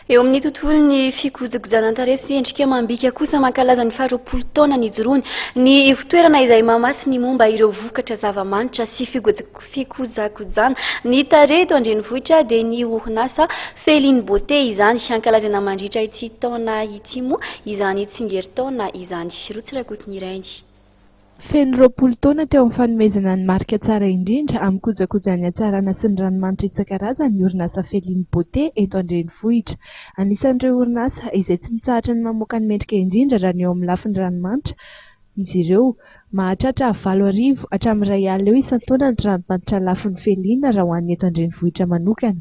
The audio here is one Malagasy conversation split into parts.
Eo amin'ny tontolon'ny fikojakojanan-tarehy sy endrika amam-bika kosa mankalaza ny faharoapolo taona nijoroany ny ivotoerana izay mamatsy ny momba ireo vokatra zava-manitra sy fikojakojana ny tarehy eto an-drenivohitra dia ny orinasa Feeling Beauté izany. Hankalazana mandritra ity taona ity moa izany tsingerin-taona izany. Rotsy Rakotonirainy. Feno roapolo taona teo amin'ny fanomezana ny marika tsara indrindra amin'ny kojakojan'ny hatsarana sy ny ranomanitra isan-karazany ny orinasa Feeling Beauté eto an-drenivohitra. Anisan'ireo orinasa izay tsy mitsahatra ny mamoaka ny mendrika indrindra raha ny eo amin'ny lafiny ranomanitra izy ireo. Mahatratra valo arivo hatramin'ny iray alina eo isan-taona ny tranom-panitra lafo nofeliana raha ho an'ny eto an-drenivohitra manokana.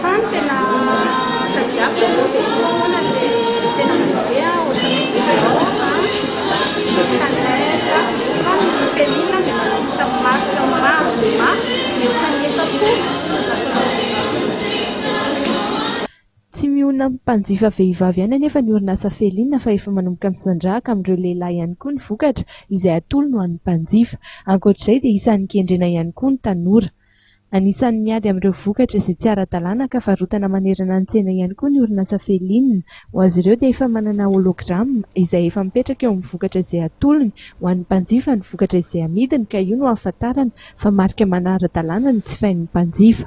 Fa ny tena tadiaviko aloha dia io foana ny hoe tena mandeha ohatran'ny hoe zéro a, canette, fa ny felina dia manomboka amin'ny marika amin'ny maro dia mafy mihoatra ny efapolo. Tsy mionona amin'ny mpanjifa vehivavy ihany anefa ny orinasa Felina fa efa manomboka misandrahaka amin'ireo lehilahy ihany koa ny vokatra izay atolony ho an'ny mpanjifa. Ankoatr'izay dia isan'ny kendrena ihany koa ny tanora. Anisan'ny miady amin'ireo vokatra izay tsy ara-dalàna ka varotana manerana ny tsena ihany koa ny orinasa Felin. Ho azy ireo dia efa manana hologramme izay efa mipetraka eo amin'ny vokatra izay atolony ho an'ny mpanjifa ny vokatra izay amidiny ka io no ahafantarana fa marika manara-dalàna ny jifain'ny mpanjifa.